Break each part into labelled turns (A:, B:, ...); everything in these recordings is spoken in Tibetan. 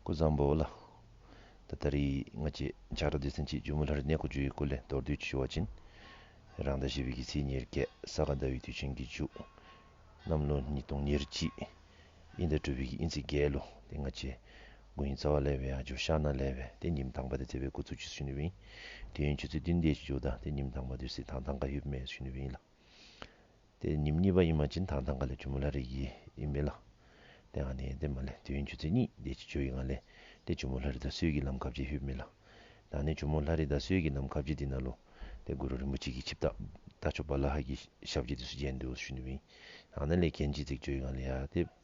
A: སྐུ་བཟང་པོ་ལ། ད་ལྟ་རི་སྔགས་ཀྱི་ཆགས་སྒྲ་དེ་ཟིན་གྱིས་ཇོ་མོ་ལྷ་རི་གནས་སྐོར་བརྒྱུད་ཡུལ་སྐོར་ལས་མདོར་བསྡུས་ཀྱི་ཞུ་བ་བྱིན། རང་ཟླ་བཞི་པའི་དགེ་ཚེས་ཉེར་བརྒྱད་ས་ག་ཟླ་བའི་དུས་ཆེན་གྱི་མཇུག། གནམ་ལོ་ཉིས་སྟོང་ཉེར་གཅིག། དབྱིན་ཟླ་དྲུག་པའི་དབྱིན་ཚེས་བརྒྱད་ལོ་དེ་སྔ་ཆེས་དགུན་དབྱིན་རྩ་བ་ལས་བའི་ཡང་ཇོ་ཤ་ན་ལས་བའི་དེ་ཉིན་དང་པ་དེ་ཚེ་བའི་དགུ་ཚུགས་ཀྱི་ཟུན་བིན། དུས་ཡུན་ཆུ་ཚོད་བདུན་བརྒྱད་ཀྱི་མཇུག་ཟླ་དེ་ཉིན་དང་པ་དུས་ཚེས་དང་ཐང་ག་ཡུབ་མེའི་ཟུན་བིན་ལ། དེ་ཉིད་གཉིས་པ་ཡིན་མ་ཅིན་དང་ཐང་ག་ལས་ཆུ་མོ་ལྷ་རི་ཡི་ཡིན་མི་ལ། དེ་ཡང་ནི་དེ་མ་ལས་དུས་ཡུན་ཆུ་ཚོད་གཉིས་བརྒྱད་ཀྱི་ཆུ་ཡི་ང་ལས་དེ་ཆུ་མོ་ལྷ་རི་ད་གཟོད་ཀྱི་ལམ་ཁ་བརྒྱད་ཧུད་མི་ལ། དང་ནི་ཆུ་མོ་ལྷ་རི་ད་གཟོད་ཀྱི་ལམ་ཁ་བརྒྱད་དེ་ན་ལོ། དེ་གུ་རུ་རིན་པོ་ཆེ་གྱིས་ཆིབས་རྟ་རྟ་མཆོག་པ་ལ་ཧ་གྱི་ཞབས་ཀྱི་དུས་སུ་བརྒྱན་དུ་ཞུས་ནུས་མིན། ཡང་ན་ལས་མཁན་གྱིས་ཚིག་བརྗོད་ཡི་ང་ལས་ཡ་དེ།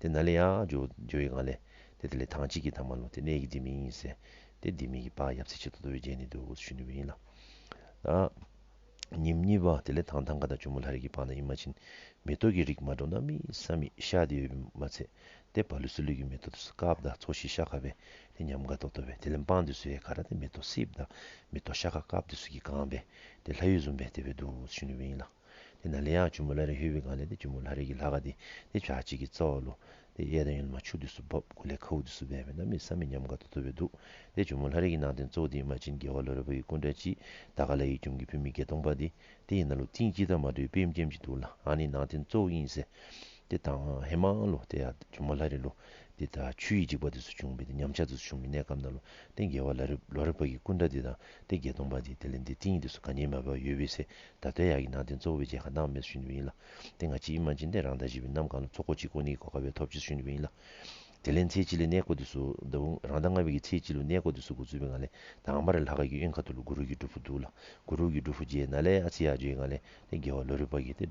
A: དེ་ན་ལེ་ཡ། ཇོ་ཡི་གང་ལེ། དེ་དེ་ལེ་ཐང་གཅིག་གི་ཐང་མ་ལོ་དེ་ནེ་གི་དེ་མིང་ཡིན་སེ། དེ་དེ་མིང་གི་པ་ཡབ་ཚེ་ཆེ་དོ་དོ་བའི་རྗེས་ནི་དོ་དགུ་ཚུ་ཤུ་ནི་བའི་ཡིན་ལ། ད། ཉིམ་གཉིས་པ་དེ་ལེ་ཐང་ཐང་ག་ད་ཇོ་མོ་ལྷ་རིགས་ཀྱི་པ་ན་ཡིན་མ་ཕྱིན། མེ་ཏོག་གི་རིགས་མ་འགྲོ་ན་མི་ས་མི་ཤ་དེ་ཡོད་མི་མ་ཚད། དེ་བ་ལུས་སུ་ལུས་ཀྱི་མེ་ཏོག་དུ་སུ་ཀ་བ་ད་ཚོ་ཤི་ཤ་ཁ་བས་དེ་ཉམས་ག་དོ་དོ་བས་དེ་ལེ་འབངས་དུ་སུ་ཡེ་ཁ་ར་དེ་མེ་ཏོག་སི་བ་ད་མེ་ཏོག་ཤ་ཁ་ཀ་བ་དུ་སུ་ཀི་གང་བས་དེ་ལྷ་ཡུལ་ཟུམ་བས་དེ་བས་དུ་བུ་ཚུ་ཤུ་ནི་བའི་ཡིན་ལ། དེ་ན་ལེ་ཡང་ཆུ་མོ་ལྷ་རེ་ཧེ་བི་གང་ལེ་དེ་ཆུ་མོ་ལྷ་རེ་གི་ལྷ་ག་དེ་དེ་བྱ་གཅིག་གི་རྩ་བ་ལོ། དེ་གཡས་དང་གཡོན་དུ་མ་ཆུ་དུས་སུ་འབབ་དགུ་ལས་ཁ་བུ་དུས་སུ་སྦས་པས་ན་མི་ས་མི་མཉམ་དགའ་དུ་ཐུབ་པས་འདུག་དེ་ཆུ་མོ་ལྷ་རེ་གི་ནང་རྟེན་གཙོ་བོ་དེ་ཡི་མ་བྱིན་རྒྱལ་བ་ལོ་རེ་བོ་ཡི་སྐུ་འདྲ་སྤྱི་ད་ག་ལ་ཡི་ཁྱུང་གི་བུད་མེད་བརྒྱད་སྟོང་པ་དེ་དེ་ཡི་ན་ལོ་ཏིང་སྤྱི་ད་མ་དྲོས་པིམ་སྐྱེམས་ཀྱི་འདུག་ལ་ཨ་ནི་ནང་རྟེན་གཙོ་བོ་དབྱིངས་སེ་དེ་དང་ཧེ་མ་ཨང་ལོ་དེ་ཡང་ཆུ་མོ་ལྷ་རེ་ལོ་དེ་ད་ཆུ་ཡི་འཇིག་པ་དུས་སུ་བྱུང་བས་དེ་ཉམས་ཆག་དུས་སུ་བྱུང་བའི་གནས་སྐབས་ན་ལོ་རྟེན་རྒྱལ་བ་ལོ་རེ་བོ་ཡི་སྐུ་འདྲ་དེ་དང་དེ་བརྒྱད་སྟོང་པ་དེ་དེ་ལས་འདི་ཏིང་ཡི་དུས་སུ་ག་ཉེས་མ་བས་པ་ཡོད་བས་སེ་ད་ལྟའི་ཡག་གི་ནང་བསྟན་གཙོ་བོ་བའི་རྗེས་ཁ་ནང་མེད་སུ་ཞུ་འདོད་པ་ཡིན་ལ། དེ་སྔ་སྤྱི་ཡི་མ་འཇིག་རྟེན་རང་དང་བཞི་པའི་ནམ་གང་ལ་ཚོགས་འཁོར་གཅིག་དགོས་ནི་གོ་དཀའ་བས་ཐོབ་བྱེད་སུ་ཞུ་འདོད་པ་ཡིན་ལ། དེ་ལས་མཚེའི་སྤྱི་ལས་གནས་བསྐོ་དུས་སུ་ད་བུ་རང་ད་སྔ་བས་ཀྱི་མཚེའི་སྤྱི་ལོ་གནས་བསྐོ་དུས་སུ་གུ་ཚུལ་བས་ང་ལས་དང་བ་རེ་ལྷ་ཁ་གི་གཡོན་ཁ་ཐུར་ལ་གུ་རུ་གི་སྒྲུབ་ཕུག་འདུག་ལ་གུ་རུ་གི་སྒྲུབ་ཕུག་རྗེས་ན་ལས་ཨ་ཚི་ཡག་བརྗོད་ཡིན་ང་ལས་ནི་དགེ་བ་ལོ་རུ་པ་གི་སྟེ།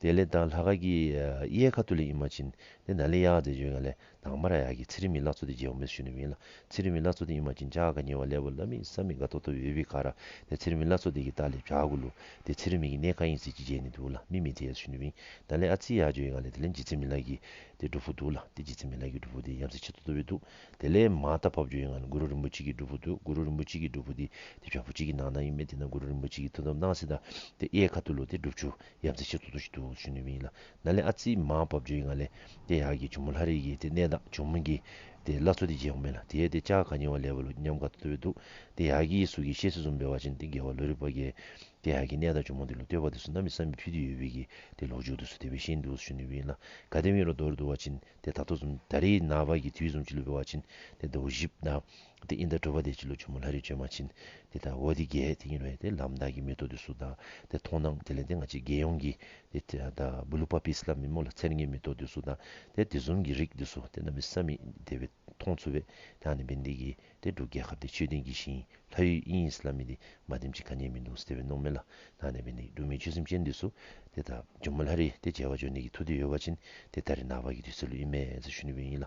A: དེ་ལས་དང་ལྷ་ག་གི་གཡས་ཁ་ཏུ་ལི་ཡིན་མ་ཅིན་ནེ་ན་ལི་ཡག་དེ་བྱོན་ཡང་ལེ་དང་མ་ར་ཡག་གི་ཚེ་རིང་མི་ལ་ཚོ་དེ་རྗེ་བོ་མེད་ཤུ་ནི་མིན་ལ་ཚེ་རིང་མི་ལ་ཚོ་དེ་ཡིན་མ་ཅིན་ཅག་ག་ཉེ་བ་ལེ་བོ་ལ་མི་ས་མི་ག་ཏོ་ཏོ་བེ་བི་ག་ར་དེ་ཚེ་རིང་མི་ལ་ཚོ་དེ་གི་ཏག་ལེ་བྱ་གུ་ལུ་དེ་ཚེ་རིང་མི་གི་ནེ་ག་ཡིན་ཟེ་གི་རྗེ་ནི་འདུག་ལ་མི་མི་དེ་ཡ་ཤུ་ནི་མིན་ན་ལེ་ཨ་ཚི་ཡག་བྱོན་ཡང་ལེ་དེ་ལེ་འཇི་ཚེ་མི་ལ་གི་དེ་སྒྲུབ་བོ་འདུག་ལ་དེ་འཇི་ཚེ་མི་ལ་གི་སྒྲུབ་བོ་དེ་ཡམ་སེ་ཆེ་ཏོ་ཏོ་བེ་འདུག་དེ་ལེ་མ་ད་བབ་བྱོན་ཡང་གུ་རུ་རིན་པོ་ཆེ་གི་སྒྲུབ་བོ་འདུག་གུ་རུ་རིན་པོ་ཆེ་གི་སྒྲུབ་བོ་དེ་དེ་བྱ་བོ་ཅི་གི་ནང་ན་ཡིན་མེད་དེ་ན་གུ་རུ་རིན་པོ་ཆེ་གི་ཐུ་དོམ་ནང་སེ་ད་དེ་གཡས་ཁ་ཏུ་ལུ་དེ་སྒྲུབ་ཆུ། ཡབ་ཚེ་ཆེ་ཐུག་ཐུག་ཤི་འདུག་ཤི་ནུས་མིན་ཡིན་ལ། ན་ལེ་ཨ་ཙིའི་མ་བབ་ཇོ་ཡི་ང་ལེ། དེ་ཡག་གི་ཇོ་མོ་ལྷ་རིག་གི་དེ་གནས་དང་ཇོ་མོ་གི། དེ་བླ་ཚོ་དེ་རྗེས་ཡོང་མེད་ལ་དེའི་དེ་ཅག་ག་ཉེ་བ་ལས་བ་ལུ་ཉམས་དགའ་ཐུ་ཐུ་འདུག་དེ་ཡག་གི་གཟུགས་ཀྱི་ཤེས་སེ་ཟུམ་པའི་བ་ཅན་དེ་དགེ་བ་ལོ་རི་པ་རྒྱལ། དེ་ཡག་གི་གནས་དང་ཇོ་མོ་དེ་ལོ་སྟོད་པ་དེ་སུ་ནམ་ཡི་བསམ་མི་ཕུད་དུ་ཡོད་བི་གི་དེ་ལོག་འཇུག་དུ་སུ་དེ་བི་ཤི་འདུག་ཤི་ནུས་མིན་ཡིན་ལ། ག་དེ་མི་ལོ་དོར་འདུག་བ་ཅན་དེ་ད་ཐོ་ཟུམ་ད་རི་ན་བ་གི་དུས་ཟུམ་ཅི་ལུས་པའི་བ་ཅན་དེ་ད་བུ་ཞིབ་ན། དེ་ཨིནྡྲ་གྲོལ་བ་དེ་སྤྱི་ལོ་ཆུ་མོ་ལྷ་རིའི་བྱོན་མ་ཕྱིན། དེ་ལྟར་བོ་དེ་རྒྱལ་དེ་ཉིད་རེད་དེ་ལམ་བདག་གིས་མེ་ཏོག་དེ་སུ་དག་དེ་མཐོང་སྣང་དེ་ལན་དེ་ང་ཅི་དགེ་ཡོང་གི་དེ་དག་བུ་ལུ་པ་པིས་ལ་མི་མོ་ལ་ཚེར་ངའི་མེ་ཏོག་དེ་སུ་དག་དེ་དེ་ཟུང་གིས་རིགས་དེ་སུ་དེ་རྣམས་མི་ས་མི་དེ་བས་མཐོང་ཚུལ་བས་དེའང་ནི་མི་འདེགས་ཀྱི་དེ་འབྲུག་རྒྱལ་ཁབ་དེ་མཆོད་རྟེན་གྱི་ཞིང་ལྷ་ཡུལ་ཨིན་ཡིས་ལ་མི་དེ་མ་དེམ་ཅི་ག་ཉན་མི་འདུག་ཟེར་བས་ནོངས་མེད་ལ་དེའང་ནི་མི་འདེགས་འབྲུག་མི་ཆོས་སེམས་ཅན་དེ་སུ་དེ་དག་ཇོ་མོ་ལྷ་རི་དེ་རྒྱལ་བ་ཇོ་ནེ་གི་ཐུགས་དེ་ཡོལ་བ་ཕྱིན་དེ་ད་རི་ནག་པ་གི་དུས་ཚོད་ལུས་ཨིན་མེད་ཟེར་ཞུ་ནི་བས་ཡིན་ལ